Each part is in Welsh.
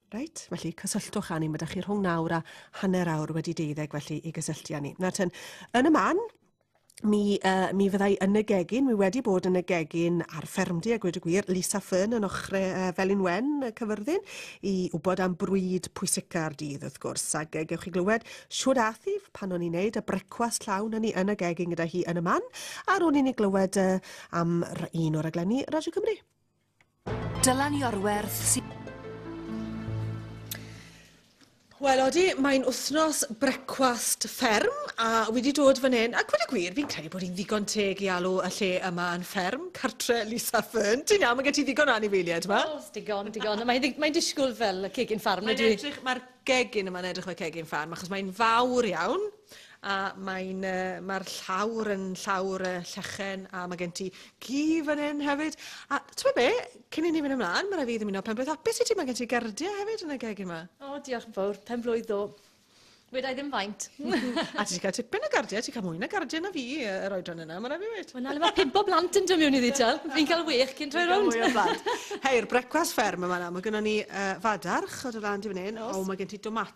Reit, felly cysylltwch â ni. Mae da chi rhwng nawr a hanner awr wedi deuddeg felly i gysylltu â ni. Nawr ten, yn y man, mi, uh, mi fyddai yn y gegin, mi wedi bod yn y gegin ar ffermdy a gwed y gwir, Lisa Fern yn ochre uh, Felin Wen y cyfyrddin, i wybod am brwyd pwysica'r dydd wrth gwrs, ac uh, gewch chi glywed siwr athi pan o'n i'n neud y brecwast llawn yn ni yn y gegin gyda hi yn y man, ar ôl i ni glywed uh, am un o'r aglenni Radio Cymru. Dylan Iorwerth sy'n... Wel, odi, mae'n wythnos brecwast fferm a wedi dod fan hyn, ac wedi gwir, fi'n credu bod hi'n ddigon teg i alw y lle yma yn fferm, cartre Lisa Fern. Ti'n iawn, mae gen ti ddigon o anifeiliaid yma. O, digon, digon. Mae'n mae disgwyl fel cegin ffarm. Mae'n edrych, mae'r gegin yma'n edrych fel cegin ffarm, achos mae'n fawr iawn. A mae'n yy mae'r llawr yn llawr yy llechen a mae gen ti gi fan hyn hefyd. A t'mo' be'? Cyn i ni fynd ymlan, ma' rai' fi ddymuno pen-blwydd hapus i ti, mae gen ti gerdie hefyd yn y gegin 'ma. O diolch yn fowr, pen-blwydd ddo'. Weda' i ddim faint. A ti 'di cael tipyn o gardie, ti'n cael mwy na gardie na fi yy yr oedran yna, ma' rai' fi weud. Wel 'na le ma' pump o blant yn dod miwn iddi t'wel', fi'n cael wêch cyn troi rownd. Fi'n cael mwy o blant. Hei, yr brecwast fferm yn fan'na, ma' gynnon ni yy fadarch o do' lan ti fan 'yn. O's. O ma' gen ti domatos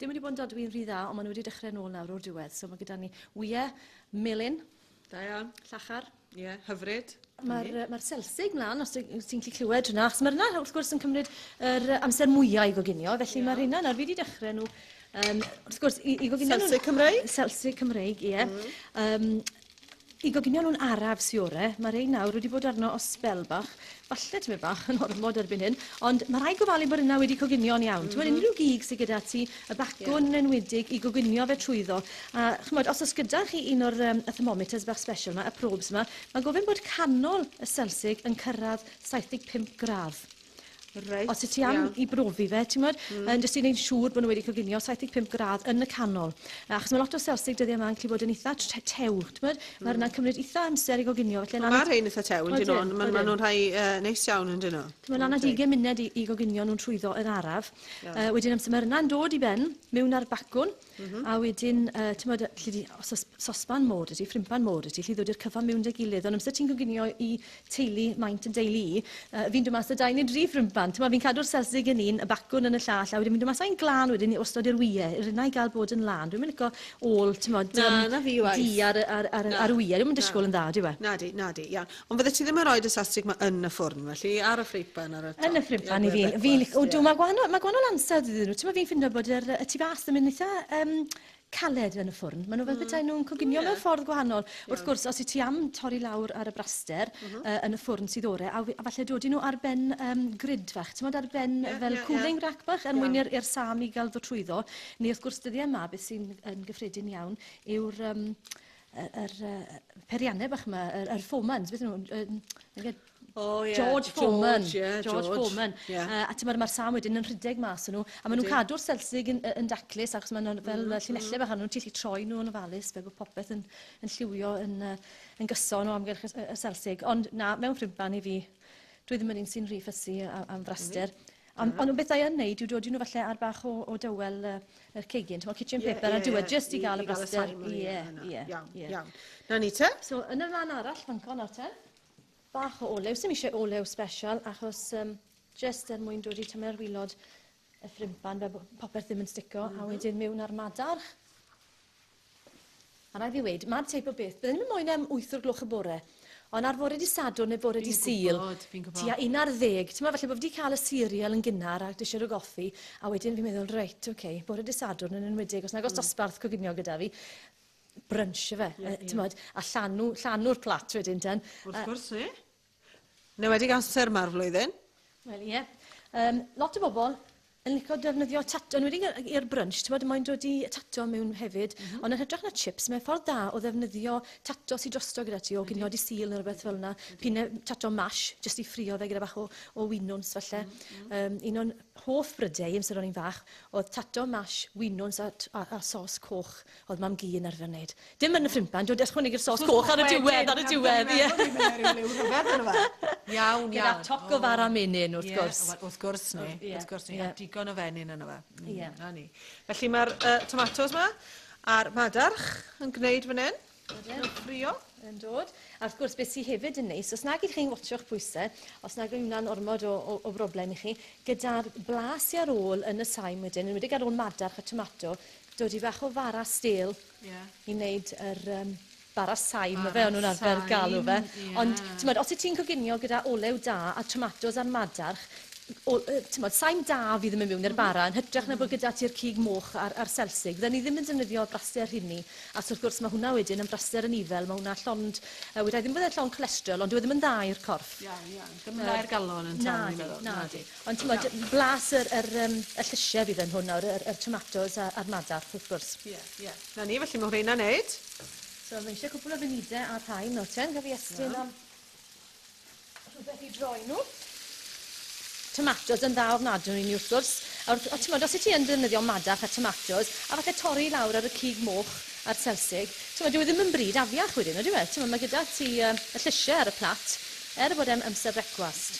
Dim wedi bod yn dodwy'n rhy dda, ond maen nhw wedi dechrau nôl nawr o'r diwedd. So mae gyda ni wyau melyn. Da iawn. Llachar. Ie, yeah, hyfryd. Mae'r ma selsig mlaen, os ti'n gallu clywed hwnna, achos mae'r yna, wrth gwrs, yn cymryd yr amser mwyaf i goginio, felly yeah. mae'r hynna nawr fi wedi dechrau nhw, um, wrth gwrs, i, i goginio nhw... Selsig Cymreig? Selsig Cymreig, ie. Yeah. Mm. Um, Y goginio nhw'n araf, siwre. Mae rhai nawr wedi bod arno o sbel bach. Falle tymed bach yn ormod erbyn hyn, ond mae rhai gofalu bod yna wedi coginio'n iawn. Ti'n gweld, mhm. unrhyw gig sydd gyda ti, y bacwn yn enwedig, i goginio fe trwyddo. A chymod, os oes gyda chi un o'r um, y thermometers bach special yma, y probes yma, mae gofyn bod canol y Celsig yn cyrraedd 75 gradd. Reit, Os y ti am iawn. i brofi fe, ti'n mwyn, mm. yn jyst i wneud siŵr bod nhw wedi coginio 75 gradd yn y canol. Achos mae lot o selsig dyddiau yma'n gallu bod yn eitha tew, ti'n mwyn? Mm. Mae hwnna'n cymryd eitha amser i goginio. Felly, mae rhain eitha tew, yn dyn nhw, ond maen nhw'n rhai uh, neis iawn, yn dyn nhw. Mae'n anad 20 munud i, i goginio nhw'n trwyddo yr araf. Yeah. Uh, wedyn amser mae hwnna'n dod i ben, mewn ar bacwn, Mm -hmm. A wedyn, uh, ti'n modd, lle di, os oes sosban môr ydy, ffrimpan môr ydy, lle ddod i'r cyfan mewn dy gilydd. Ond amser ti'n gwynio i teulu maint yn deulu i, uh, fi'n dod mas o dau neu dri ffrimpan. Ti'n modd, fi'n cadw'r selsig yn un, y bacwn yn y llall, a wedyn fi'n dod mas o'n glan wedyn i ostod i'r wyau, i'r unau gael bod yn lan. Dwi'n mynd ico ôl, ti'n modd, na, um, na fi di ar, ar, ar, na, ar wyau. Dwi'n mynd disgwyl yn dda, di we? Na di, na di, iawn. Ond fyddet ti ddim yn rhoid y sastrig 'ma yn y ffwrn, felly, ar y ffreipan ar y top? Yn y ffreipan i fi. Fi'n lic- Odw, mae gwahanol, mae gwahanol ansawdd iddyn nhw. Timod, fi'n ffindo bod yr, y tu fas yn mynd eitha um, caled yn y ffwrn. Maen nhw fel bethau nhw'n coginio mewn ffordd gwahanol. Wrth gwrs, os i ti am torri lawr ar y braster uh, yn y ffwrn sydd ore, a, a falle dodi nhw ar ben um, grid fach, ti'n ar ben yeah, fel yeah, cooling yeah. rack bach, er mwyn i'r er sam i gael ddo trwyddo. Neu wrth gwrs, dyddiau yma, beth sy'n gyffredin iawn yw'r... Um, y yr yy peirianne bach 'ma yr yr Fomans beth o'n nhw'n yy yy Oh, yeah. George Foreman. George, yeah, George, George Foreman. Yeah. Uh, a ti'n mae'r sam wedyn yn rhedeg mas yn nhw. A maen nhw'n cadw'r selsig yn, yn daclus, achos maen nhw'n fel mm -hmm. llinellau bach, a nhw'n tillu troi nhw yn ofalus, fe bod popeth yn, yn lliwio yn, uh, yn gyson o amgylch y, y selsig. Ond na, mewn ffrimpan i fi, dwi ddim yn un sy'n rhy ffysu am fraster. Mm -hmm. Ond ond beth da i yn neud yw dodi nhw falle ar bach o o dywel yy yr cegin t'mod kitchen paper ar diwedd jyst i ga'l y braster. Ie ie. Iawn iawn. 'Na ni te. So yn y ran arall fanco nawr te. Bach o olew, sim isie olew sbesial achos yym jyst er mwyn dodi tymed ar wilod y ffrympan fel bo' popeth ddim yn stico a wedyn miwn a'r madarch. A rhaid fi weud, ma'r teip o beth, bydden ni'm yn moyn e am wyth o'r gloch y bore, ond ar fore dy Sadwrn neu bore dy Sul... Fi'n gwybod, fi'n gwybod. ...tua un ar ddeg, t'mod, falle bo' fi 'di ca'l y cereal yn gynnar a dishwr o goffi, a wedyn fi'n meddwl, reit, ok, bore dy Sadwrn yn enwedig, os nag o's dosbarth coginio gyda fi, brunch yfe? Ie, ie. Yy, t'mod, a llanw, llanw'r plat wedyn ten. Wrth gwrs, ie. Yn enwedig amser yma o'r flwyddyn. Wel, ie. Um, lot o bobl yn licio defnyddio tato, yn wedi i'r brunch, ti'n bod, mae'n dod i tato mewn hefyd, mm -hmm. ond yn hytrach na chips, mae'n ffordd da o ddefnyddio tato sy'n drosto gyda ti, o gynio di sil neu rhywbeth fel yna, pine tato mash, jyst i ffrio fe gyda bach o, o winwns falle. Mm -hmm. um, un o'n hoff brydau, amser o'n i'n fach, oedd tato mash, winwns a, a, a sos coch. Oedd mam-gu yn arfer wneud. Dim yn y ffrindpan, dw i'n ychwanegu'r sos coch ar y diwedd, ar y diwedd, ie! Dwi'n meddwl bod rhyw ryfedd ynddo fe. Iawn, iawn. Gyda toc o fara menyn, wrth gwrs. Ie, wrth gwrs ni, wrth gwrs ni. A digon o fenyn ynddo fe. Ie. 'Na ni. Felly mae'r tomatos 'ma a'r madarch yn gwneud fan hyn. Ydyn. Yn ffrio. Yn dod. A wrth gwrs, beth sy hefyd yn neis, os nag ydych chi'n watsio'ch pwyse, os nag yw hwnna'n ormod o broblem i chi, gyda'r blas sy ar ôl yn y saim wedyn, yn enwedig ar ôl madarch a tomato, dod i fach o fara stêl... Ie. ...i wneud yr yym bara sain... Bara sain. ...ma' fe o'n nhw'n arfer galw fe. Ie. Ond t'mod os wyt ti'n coginio gyda olew da a tomatos a'r madarch o- yy t'mod sain da fydd yn mynd miwn i'r bara yn hytrach na bod gyda ti'r cig moch a'r a'r selsig. Fydden ni ddim yn defnyddio brase'r rheini achos wrth gwrs ma' hwnna wedyn yn brase'r anifail ma' hwnna llond yy weda i ddim bod e'n llond cholesterol ond dyw e ddim yn dda i'r corff. Iawn iawn. Dim yn dda i'r galon yn llawn fi'n meddwl. Nadi nadi. Ond t'mod, blas yr yr yym y llysie fydd yn hwn nawr, yr yr tomatos a a'r madarch wrth gwrs. Ie, ie. 'Na ni, felly ma' rheina'n neud. So ma' isie cwpwl o funudau a'r rhain nawr te, gaf fi estyn am rhwbeth i droi nhw. Tomatos yn dda ofnadw i ni wrth gwrs, a wrth a t'mod os wyt ti yn defnyddio madarch a tomatos, a falle torri lawr ar y cig moch a'r selsig, t'mod dyw e ddim yn bryd afiach wedyn, ydyw e? T'mod ma' gyda ti yy y llysie ar y plat, er bod e'n amser brecwast.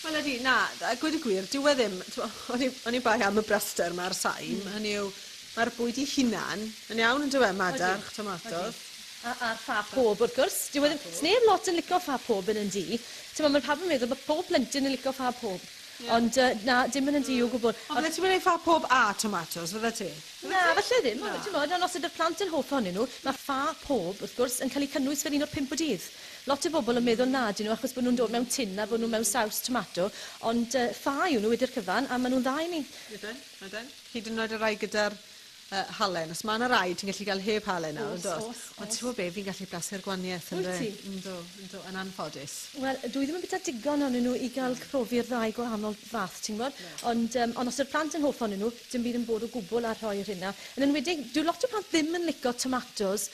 Wel ydi na d- a gweud y gwir dyw e ddim t'mo' oni oni bai am y braster 'ma a'r saim... Hmm. ...hynny yw ma'r bwyd 'i hunan yn iawn on'd yw e? Madarch tomato. Odi odi. A a'r ffa pob wrth gwrs. Dyw e ddim... Ffa pob. Sneb lot yn lico ffa pob yn y du. T'mo' ma' pawb yn meddwl bo' pob plentyn yn lico ffa pob. Ie. Ond yy na dim yn y du o gwbwl. Ond... Ond fyddet ti'm yn neud ffa pob a tomatos fyddet ti? Na falle ddim ond t'mod ond os ydi'r plant yn hoff ohonyn n'w ma' ffa pob wrth gwrs yn ca'l 'i cynnwys fel un o'r pump o dydd. Lot o bobl yn meddwl na 'dyn nhw achos bod nhw'n dod mewn tin a bod nhw mewn saws tomato, ond ffa yw nhw wedi'r cyfan a maen nhw'n dda i ni. Ydyn, ydyn. Hyd yn oed y rhai gyda'r halen. Os mae 'na rai ti'n gallu cael heb halen nawr, yn dwyt? Oes, oes. Ond ti'n gwybod be, fi'n gallu blasu'r gwaniaeth yn fy... Wyt ti? Yndw, yndw, yn anffodus. Wel, dwi ddim yn bwyta digon ohonyn nhw i gael profi'r ddau gwahanol fath, ti'n gwybod. Ond os yw'r plant yn hoff ohonyn nhw, dim byd yn bod o gwbl â rhoi yr hyn 'na. Yn enwedig, dyw lot o plant ddim yn licio tomatos.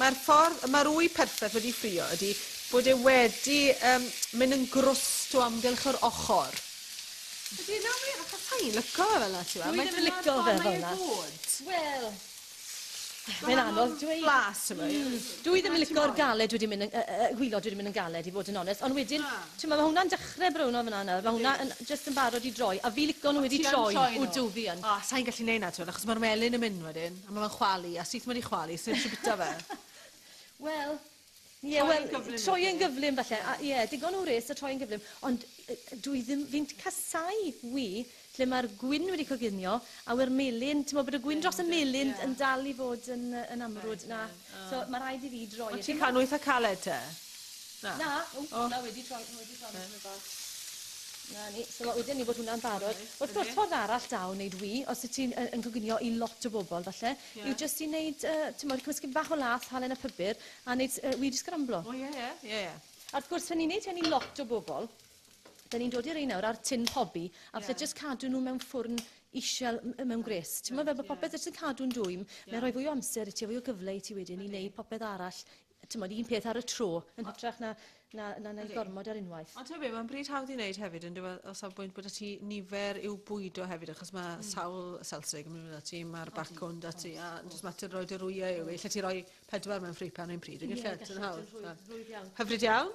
Mae'r ffordd y mae'r ŵy perffaith wedi ffrio ydy bod e wedi um, mynd yn grwst o amgylch yr ochr. Ydy, na wir, achos sa i'n lico fe fel yna, ti'n Dwi ddim yn lico fe fel yna. Wel, Mae'n anodd dweud. Blas, ti'n mm. Dwi ddim yn licio'r galed wedi mynd yn, uh, uh, gwylod wedi mynd yn galed i fod yn onest, ond wedyn, ah. ti'n mae hwnna'n dechrau brwno fyna nawr, mae hwnna yn just yn barod i droi, a fi lico nhw wedi troi, wdw fi yn. O, sa'n gallu neud na, ti'n achos mae'r melin yn mynd wedyn. A ma fe'n chwalu a syth mewn i chwalu sneb isie bita fe. Wel, ie wel... Troi yn gyflym yw e. Troi yn gyflym falle. Ie. A ie digon o wres a troi yn gyflym ond yy dwi ddim fi'n t- casau wy lle ma'r gwin wedi coginio a we'r melyn t'mo' bod y gwin dros y melyn yn dal i fod yn yy yn amrwd na. So ma raid i fi droi e mas. Ond ti'n cael nhw eitha caled te? Na? Na, o na wedi troi, ma wedi troi nhw tymed bach. Na ni, so ma wedi ni bod hwnna'n barod. Wrth gwrs ffordd arall da o neud wî, os wyt ti'n yn coginio i lot o bobl falle, yw jyst i neud yy t'mod cymysg tipyn bach o lath, halen a phupur a neud yy wî di sgramblo. O ie ie. Ie ie. A wrth gwrs pan ni'n neud hyn i lot o bobl, Da ni'n dod i rein nawr ar tin pobi, a falle yeah. just cadw nhw mewn ffwrn isel mewn gwres. Ti'n meddwl fel bod popeth yeah. yn cadw'n dwym, yeah. mae'n rhoi fwy o amser i ti, fwy o gyfle i ti wedyn okay. i wneud popeth arall, ti'n modd, un peth ar y tro, yn hytrach na, na, na, na okay. gormod ar unwaith. Ond hefyd, mae'n bryd hawdd i wneud hefyd, yn dweud, os am bwynt bod y ti nifer i'w bwydo hefyd, achos mae mm. sawl selsig yn mynd ati, mae'r bacwn da ti, a just mater roi dy rwyau yw, lle ti roi pedwar mewn ffripan yn pryd, yn yeah, gallu, yn hawdd. Hyfryd iawn.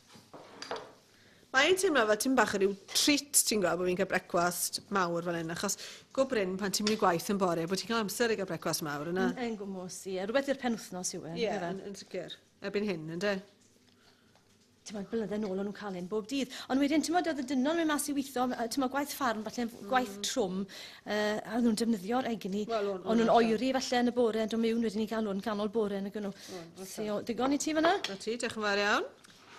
Mae e'n teimlo fel ti'n bach yn rhyw treat, ti'n gweld, bod fi'n cael brecwast mawr fan hyn, achos go brin pan ti'n mynd i gwaith yn bore, bod ti'n cael amser i gael brecwast mawr yna. Yn, yn gwmwys, ie. Yeah. Rhywbeth i'r penwthnos yw e. Ie, yeah, yn, yn sicr. Ebyn hyn, yn de? Ti'n modd, blynydde nôl o'n nhw'n cael un bob dydd. Ond wedyn, ti'n modd, oedd y dynol yn mynd mas i weithio, ti'n modd, gwaith ffarm, falle mm. gwaith trwm, Yy, a oedden nhw'n defnyddio'r egni. Wel, o'n- o'n O'n nhw'n nhw'n oeri falle yn y bore yn dod mewn wedyn i galw yn ganol bore nag o'n nhw. O'n, oce. Ti o- digon i ti fanna? Na ti, diolch yn fawr iawn.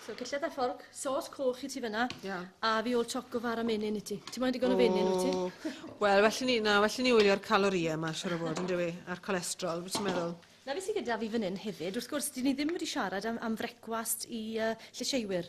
So cylled a fforc, sos coch i ti fanna. Ia. A fi ôl choc o fara menyn i ti. Ti moyn digon o fenyn wyt ti? O, Wel, well i ni, na, well i ni wylio'r calorie yma, siwr o fod, yn dyw a'r cholesterol, beth ti'n meddwl? Na beth sydd gyda fi fan hyn hefyd, wrth gwrs, dyn ni ddim wedi siarad am, am frecwast i uh, llysieuwyr.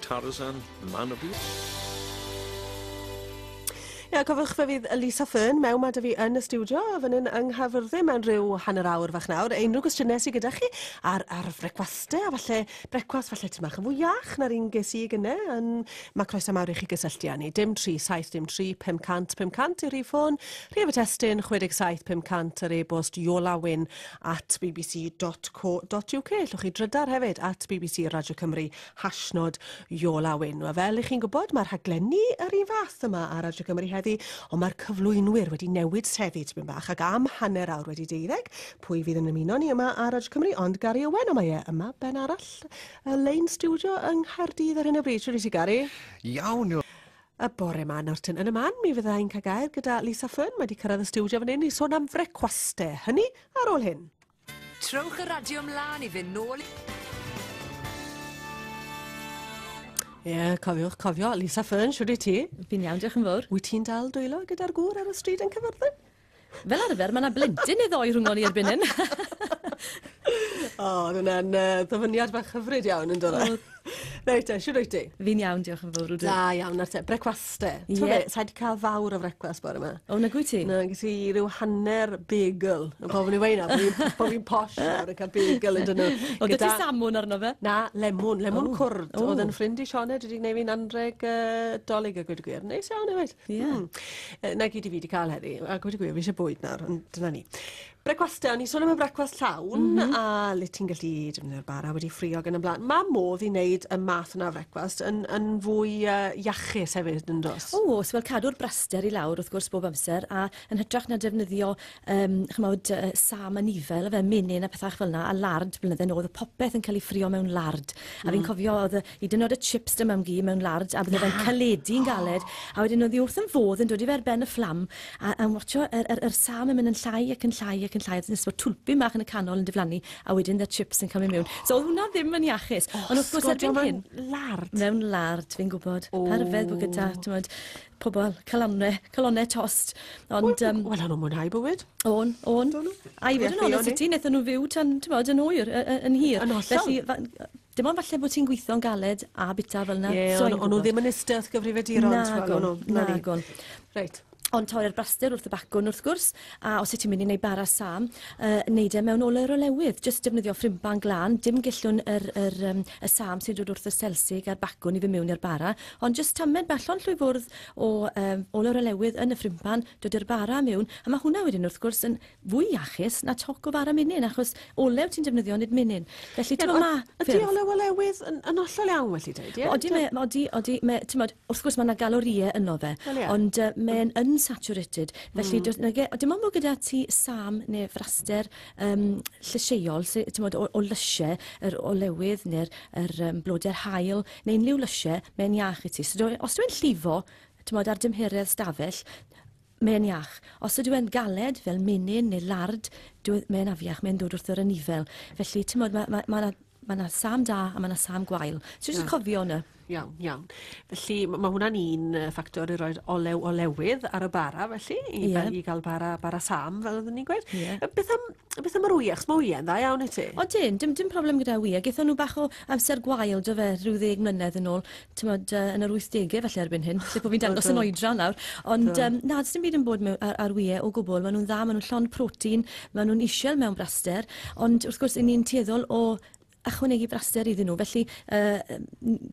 Tarzan, man of the... Ia, cofiwch fe fydd Lisa Fearn mewn ma da fi yn y stiwdio, a fan hyn yng Nghaerfyrddin mewn rhyw hanner awr fach nawr. Unrhyw gwestiynau sydd gyda chi ar, ar frecwaste, a falle brecwast falle ti'n mach yn fwy iach na'r un ges i gyne, yn, mae croeso mawr i chi gysylltu â ni. Dim 37, dim 3, 500, 500 yw'r rhif ffôn, rhif y testyn 67 500 yr e-bost iolawyn at bbc.co.uk. Llwch chi drydar hefyd at bbc Radio Cymru Hashnod Iola Wyn. Wel, fel i chi'n gwybod, mae rhaglenni yr un fath yma ar Radio Cymru heddi, ond mae'r cyflwynwyr wedi newid trefi tipyn bach ac am hanner awr wedi deuddeg, pwy fydd yn ymuno ni yma ar Radio Cymru, ond Gary Owen, ond mae e yma ben arall y lein studio yng Nghaerdydd ar hyn o bryd. Siwr i ti, Gary? Iawn, Iola. Y bore ma, Norton, yn y man, mi fydda i'n cael gair gyda Lisa Fern, mae wedi cyrraedd y studio fan hyn i sôn am frecwaste, hynny ar ôl hyn. Trowch y radio mlaen i fynd nôl i... Ie, yeah, cofiwch cofio. Lisa Fern, siwr i ti? Fi'n iawn, diolch yn fawr. Wyt ti'n dal dwylo gyda'r gŵr ar y stryd yn cyfyrddin? Fel arfer, mae yna blentyn neu ddoi rhwng o'n i erbyn hyn. o, oedd hwnna'n uh, ddyfyniad bach hyfryd iawn yn dod. Reit te, siwr wyt ti? Fi'n iawn, diolch yn fawr. Da iawn, ar te. Brecwast te. Ie. Ti'n gwybod, sa i di cael fawr o frecwast bore yma. O, na gwy ti? Na, gys i rhyw hanner bagel. Yn pob yn ei weina, bod fi'n posh nawr yn cael bagel yn dyn nhw. O, gyda... ti samwn arno fe? Na, lemwn, lemwn oh. cwrdd. Oh. Oedd yn ffrind i Sioned wedi gwneud fi'n anreg uh, dolyg a gwyd y gwir. Neis iawn, efo. Ie. Yeah. Hmm. Na gyd i fi wedi cael heddi, a gwyd y gwir, fi eisiau bwyd nawr, dyna ni. Brecwastau, o'n i'n sôn am y brecwast llawn, mm -hmm. a le ti'n gallu defnyddio'r bara wedi ffrio gan y blaen. Mae modd i wneud y math yna o frecwast yn, yn fwy uh, iachus hefyd yn dos. O, os fel cadw'r braster i lawr wrth gwrs bob amser, a yn hytrach na defnyddio um, chymod, uh, sam a nifel, fe menyn a pethach fel yna, a lard, blynydde nôl, oedd popeth yn cael ei ffrio mewn lard. Mm. A fi'n mm. cofio oedd y, Hyd yn oed y chips da mam gi mewn large a bydde fe'n caledu'n galed a wedyn oedd hi wrth yn fodd yn dod i fe ar ben y fflam a yn watsio yr, yr, yr sâl yn mynd yn llai ac yn llai ac yn llai a jyst bod twlpyn bach yn y canol yn diflannu a wedyn da chips yn cael mynd mewn. So oedd hwnna ddim yn iachus. Ond wrth gwrs erbyn hyn... Sgodio mewn lard? Mewn lard, fi'n gwybod. O! Pa ryfedd bod gyda, t'mod, pobl calonne, calonne tost. Ond yym... Wel, o'n nhw'n mwynhau bywyd. O'n, o'n. Do nhw? A i fod yn onest i ti, wnaethon nhw fyw tan, t'mod, yn hwyr, y- y- yn hir. Yn hollol. Felly, fa- Dim ond falle bod ti'n gweithio'n galed a bita fel 'na. Ie, o'n nhw ddim yn Stealth gyfrifiaduron. Nagon, nagon. Reit. Ond torri'r braster wrth y bacwn wrth gwrs, a os y ti'n mynd i wneud bara sam, uh, neud e mewn ole'r olewydd. Just defnyddio ffrimban glan, dim gellwn yr, yr, um, y sam sy'n dod wrth y selsig a'r bacwn i fy mewn i'r bara, ond just tamed bach ond llwy fwrdd o um, ole'r olewydd yn y ffrimban, dod i'r bara mewn, a mae hwnna wedyn wrth gwrs yn fwy iachus na toc o fara menyn, achos olew ti'n defnyddio nid menyn. Felly, ti'n ma... Ydy olew olewydd yn, yn ollol iawn, felly dweud, ie? Odi, mae, odi, odi, mae, ti'n modd, wrth gwrs mae yna galorïau yno fe, well, yeah. ond uh, mae'n mm. unsaturated, felly mm. na, e, dim ond bod gyda ti sam neu fraster um, llysieuol, ti'n modd, o, o lysiau, yr olewydd neu'r er, um, blodau'r hael, neu unrhyw lysiau, mae'n iach i ti. So, os dwi'n llifo, ti'n modd, ar dymheredd stafell, Mae'n iach. Os ydyw e'n galed, fel menyn neu lard, dyw e... mae'n afiach, mae'n dod wrth yr anifail. Felly, timod, mae, mae, mae 'na, mae 'na sâm da a mae 'na sâm gwael. So jyst Iawn. cofio hwnna. Iawn, iawn. Felly, m- mae hwnna'n un yy, ffactor i roi'r olew olewydd ar y bara, felly, i, Ie. i gael bara, bara sam, fel oeddwn ni'n gweud. Ie. Yy, Beth am, beth am yr wyau? Chos mae wyau'n dda iawn i ti. O dyn, dim, dim problem gyda wy, a gethon nhw bach o amser gwael, do fe, rhyw ddeg mlynedd yn ôl. tymod, uh, yn yr 80au falle erbyn hyn, lle bod fi'n dangos yn oedran nawr. Ond do. um, na, dim byd yn bod mewn, ar, ar wyau o gwbl. Maen nhw'n dda, maen nhw'n llon protein, maen nhw'n isiel mewn braster, ond wrth gwrs, ni'n tueddol o ychwanegu braster iddyn nhw. Felly, uh,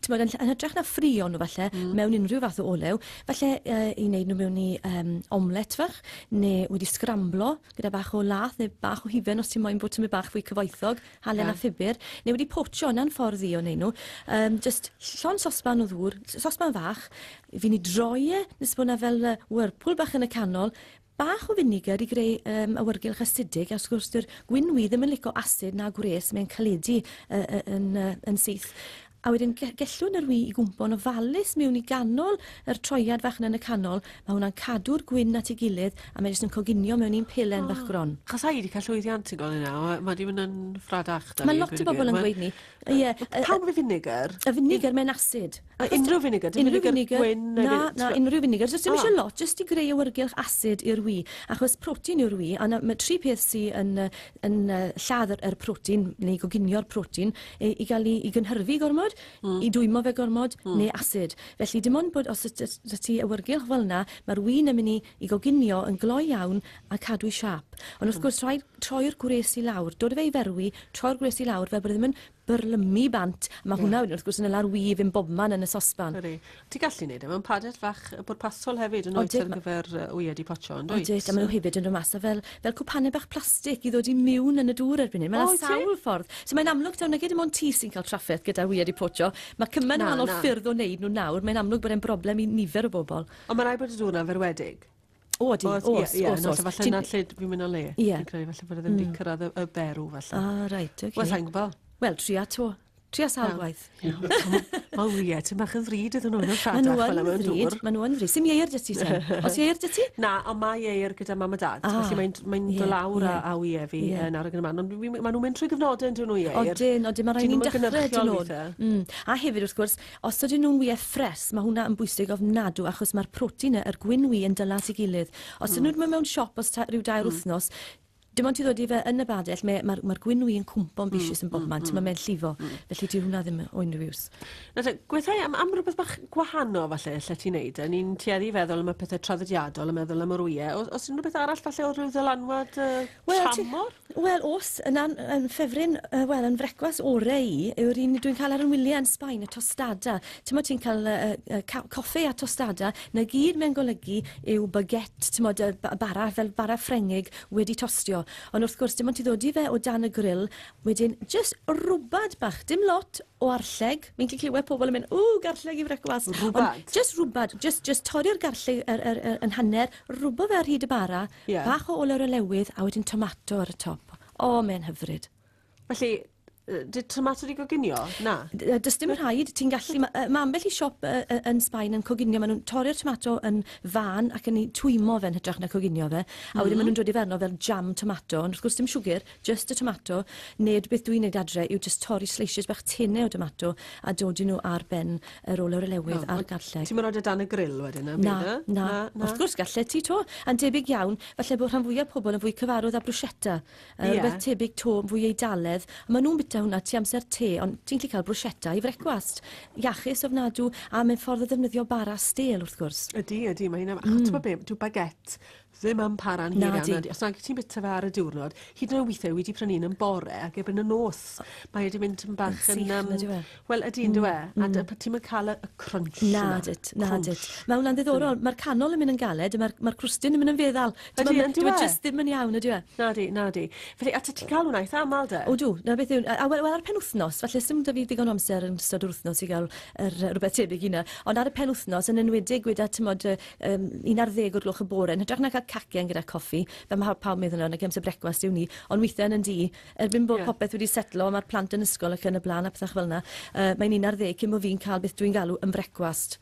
tymod, yn, yn hytrach na ffrio nhw falle mm. mewn unrhyw fath o olew, falle uh, i wneud nhw mewn i um, omlet fach, neu wedi sgramblo gyda bach o lath neu bach o hufen os ti'n moyn bod ti'n mynd bach fwy cyfoethog. halen a phupur, neu wedi potsio, yna'n ffordd ddi o wneud nhw. Um, just llon sosban o ddŵr, sosban fach, fi ni droi e, nes bod yna fel uh, whirlpool bach yn y canol, bach o finigar i greu um, awyrgylch asidig, a wrth gwrs, dyw'r gwyn wi ddim yn licio asid na gwres, mae'n caledu uh, uh, yn, uh, yn syth. A wedyn ge- gellwn yr wy i gwmpo'n ofalus miwn i ganol yr troiad fach na yn y canol, ma hwna'n cadw'r gwyn at ei gilydd a mae jyst yn coginio mewn un pelen fach gron. Achos ai di cael llwyddiant yn gol yna, ma ma di mynd yn ffradach da ni. Mae lot o bobl yn gweud ni. Ie. Pam y vinegar? Y vinegar mae'n acid. A unrhyw vinegar, dim vinegar gwyn neu... Na, na, unrhyw vinegar, jyst dim eisiau lot, jyst i greu awyrgylch acid i'r wy, achos protein yw'r wy, a na, mae tri peth sy'n yn uh, lladd yr, yr protein neu goginio'r protein i, i gael ei, ei gynhyrfu gormod, mm. i dwymo fe gormod mm. neu acid. Felly dim ond bod os ydych ti awyrgylch fel yna, mae'r wyn yn mynd i, i goginio yn gloi iawn a cadw i siap. Ond wrth mm. gwrs rhaid troi'r gwres i lawr, dod o fe i ferwi, troi'r gwres i lawr fel bod e ddim yn byrlymu bant. Mae yeah. hwnna wedyn wrth gwrs yn y lawr wyf yn bobman yn y sosban. Ydy. Ti gallu gwneud e mewn padet fach bwrpasol hefyd yn oed ar gyfer wyed i potsio, yn dweud? Oedyd, a maen nhw hefyd yn rhywun mas fel, fel cwpanau bach plastig i ddod i miwn yn y dŵr erbyn hyn. Mae yna sawl ffordd. So mae'n amlwg taw nag dim ond ti sy'n cael trafferth gyda wyed i potsio. Mae cymaint o wahanol ffyrdd o wneud nhw nawr. Mae'n amlwg bod e'n broblem i nifer o bobl. Ond mae rhaid bod y dŵr yna'n ferwedig. O, ydy, os, os, os, os, os. Falle na lle fi'n mynd o le. Ie. Yeah. Fi'n falle bod e ddim wedi mm. cyrraedd y, y berw, falle. Ah, reit, oce. Okay. Wel, sa'n gwybod. Wel, tria to. Tria sawl gwaith. Wel, ie, ti'n bach yn ddrud iddyn nhw'n rhadach fel yma yn dŵr. Mae nhw'n ddrud. Sym ieir dyty, Sam? Os ieir dyty? Na, ond mae ieir gyda mam a dad. Ah, Felly mae'n mae yeah, dolawr yeah. a ie fi yeah. yn arwyg yn y man. Ond maen nhw'n mynd trwy gyfnodau yn dyn nhw ieir. Odyn, odyn, mae rhaid ni'n dechrau dyn nhw. Mm. A hefyd, wrth gwrs, Os ydyn nhw'n wyau ffres, mae hwnna yn bwysig ofnadw achos mae'r protein y, yr gwin wy yn dyla at ei gilydd. Os ydyn nhw'n mynd mewn siop os ta, rhyw dair wythnos, dim ond ti ddod i fe yn y badell, mae, mae'r, mae'r gwin wy yn cwmpo'n bisius yn bob man, mae mae'n llifo, felly dyw hwnna ddim o unrhyw iws. Na te, gweithau am, am rhywbeth bach gwahanol falle, lle ti'n neud e. Ni'n tueddu i feddwl am y pethau traddodiadol, yn meddwl am yr wyau. Os, os unrhyw beth arall falle o rhyw ddylanwad uh, Wel, ti- tramor? Wel os yn an- yn ffefryn yy wel yn frecwast ore i yw'r un dwi'n cael ar yn wyliau yn Sbaen, y tostada. T'mod ti'n cael yy yy yy ca- coffe a tostada, 'na gyd mae'n golygu yw baguette, t'mod y ba- bara fel bara Ffrengig wedi tostio. Ond wrth gwrs dim ond ti ddod i fe o dan y gril, wedyn jyst rwbad bach, dim lot o arlleg, fi'n 'llu clywed pobl yn mynd ww garlleg i frecwast. Rwbad? Ond jyst rwbad, jyst jyst torri'r garlleg yr yr yr yn hanner, rwbo fe ar hyd y bara, Ie. Bach o olwr o lewydd a wedyn tomato ar y top. O, mae'n hyfryd. Felly, yy, did tomato di goginio? Na. D- yy, Does dim rhaid, ti'n gallu... ma- yy, Mae ambell i siop yy, yy, yn Sbaen yn coginio, maen nhw'n torri'r tomato yn fân ac yn ei twymo fe'n hytrach na coginio fe, a wedyn maen nhw'n dod i fe arno fel jam tomato, ond wrth gwrs dim siwgr, Just a tomato, nid beth dwi'n neud adre yw just torri sleisiys bach tine o domato a dodi nhw ar ben yr olew relewydd a'r garlleg. Ti'm yn rhoid e dan y grill wedyn na? Na, na, wrth gwrs gallet ti to, a'n debyg iawn, falle bod rhan fwyaf pobl yn fwy cyfarwydd â bruschetta, rhywbeth tebyg to, fwy Eidaledd, a maen nhw'n bita hwnna tu amser te, ond ti'n gallu cael bruschetta i frecwast. Iachus ofnadw, a mae'n ffordd o ddefnyddio bara stêl wrth gwrs. Ydy, ydy, mae hynna... A ti'n gwybod be, dyw baguette Ddim yn para'n hir iawn. Nadi. Os nag ti'n bita fe ar y diwrnod, hyd yn oed weithiau wedi prynu un yn bore ac erbyn y nos, mae wedi mynd yn bach yn... Sych, nid yw e? Wel, ydy, nid yw e. Mm, a mm. dy- ti'n mynd cael y, y crunch yna. Nadit, nadit. Mae hwnna'n ddiddorol. Mae'r canol yn mynd yn galed, mae'r mae crwstyn yn mynd yn feddal. Ydy, yn dwi e? just ddim yn iawn, ydy e? Nadi, nadi. Felly, a ti'n cael hwnna eitha aml de? O dw, na beth yw... A wel, wel ar penwthnos, falle sy'n da fi ddigon amser yn ystod yr wythnos i gael er, rhywbeth tebyg i hynna. Ond ar y penwthnos, yn enwedig gyda, tymod, um, 11 o'r gloch y bore, yn hytrach na cael cacen gyda coffi, fe mae pawb meddwl yna, gyda'n sy'n brecwast yw ni, ond weithiau yn y di, erbyn bod yeah. popeth wedi setlo, mae'r plant yn ysgol ac yn y blaen a pethau fel yna, uh, mae'n 11 cyn bod fi'n cael beth dwi'n galw yn brecwast.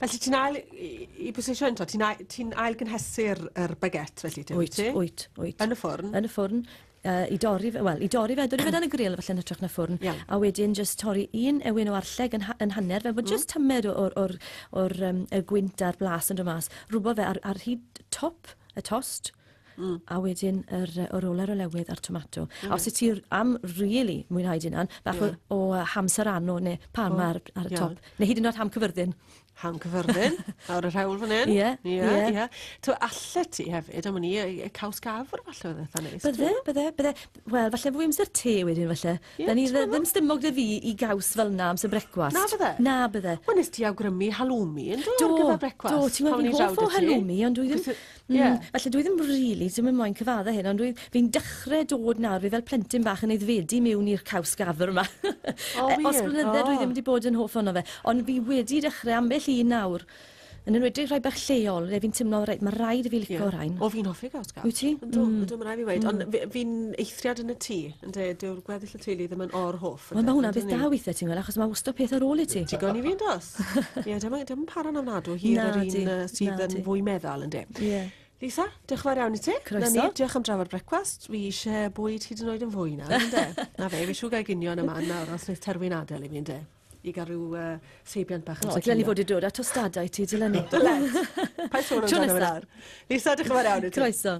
Felly ti'n ail, i, i bwysleisio eto, ti'n ail, ti ail gynhesu'r er baget felly, ti'n wyt? Wyt, wyt. Yn y ffwrn? Yn y ffwrn. uh, i dorri fe, wel, i dorri fe, dorri fe dan y grill falle yn hytrach na ffwrn, yeah. a wedyn just torri un ewyn o arlleg yn, ha yn hanner, fel bod mm. just tymed o'r, or, or, or, um, y gwynt a'r blas yn dod mas, rhywbeth fe ar, ar hyd top y tost, Mm. a wedyn yr, yr oler o lewydd a'r tomato. Mm. A os ti am really mwynhau dyn yna, bach yeah. o, o hamser anno neu pan oh, ar, ar y yeah. top, neu hyd yn oed ham cyfyrddin. Ham cyfyrddin, lawr y rhewl fan hyn. Ie, ie. Yeah, yeah. Tw, alle ti hefyd, am ni, y caws gafr falle oedd eitha neis. Bydde, bydde, bydde. Wel, falle fwy amser te wedyn falle. Yeah, da ni ddim stymog dy fi i gaws fel na amser brecwast. Na bydde? Na bydde. Wel, nes ti awgrymu halloumi yn do, do ar gyfer brecwast. Do, ti'n meddwl fi'n hoff o halloumi, ond dwi ddim... Mm, yeah. Felly dwi ddim really, ddim yn moyn cyfadda hyn, ond fi'n dechrau dod nawr, fi fel plentyn bach yn eiddfedu mewn i'r caws gafr yma. Oh, e, Os blynydde oh. dwi ddim wedi bod yn hoff ono fe, ond fi wedi dechrau ambell un nawr, yn enwedig rhai bach lleol, le fi'n tymlo, reit, mae rhaid i fi licio yeah. rhain. O, fi'n hoffi caws gafr. Wyt ti? Ydw, mm. ydw, mae'n rhaid fi weid. Mm. Ond fi'n eithriad yn y tŷ, ynddo, dyw'r gweddill y teulu ddim yn o'r hoff. Wel mae hwnna'n beth da weithiau ti'n gweld achos mae wastad peth ar ôl i ti. Digon i fi yn dos. Ie, dim yn para'n ofnadw hir yr un sydd yn fwy meddal yn de. Ie. Lisa, diolch yn fawr iawn i ti. Croeso. Na ni, diolch am drafod brecwast. Fi eisiau bwyd hyd yn oed yn fwy na, ynddo? Na fe, fi siw gael gynio yma nawr os wneud terfyn adael i fi, ynddo? i gael rhyw uh, seibiant bach. O, dylen ni fod i dod a tostadau ti, dylen ni. Dylen. Pa sôn amdano fe nawr? Lisa, diolch yn fawr iawn i ti. Croeso.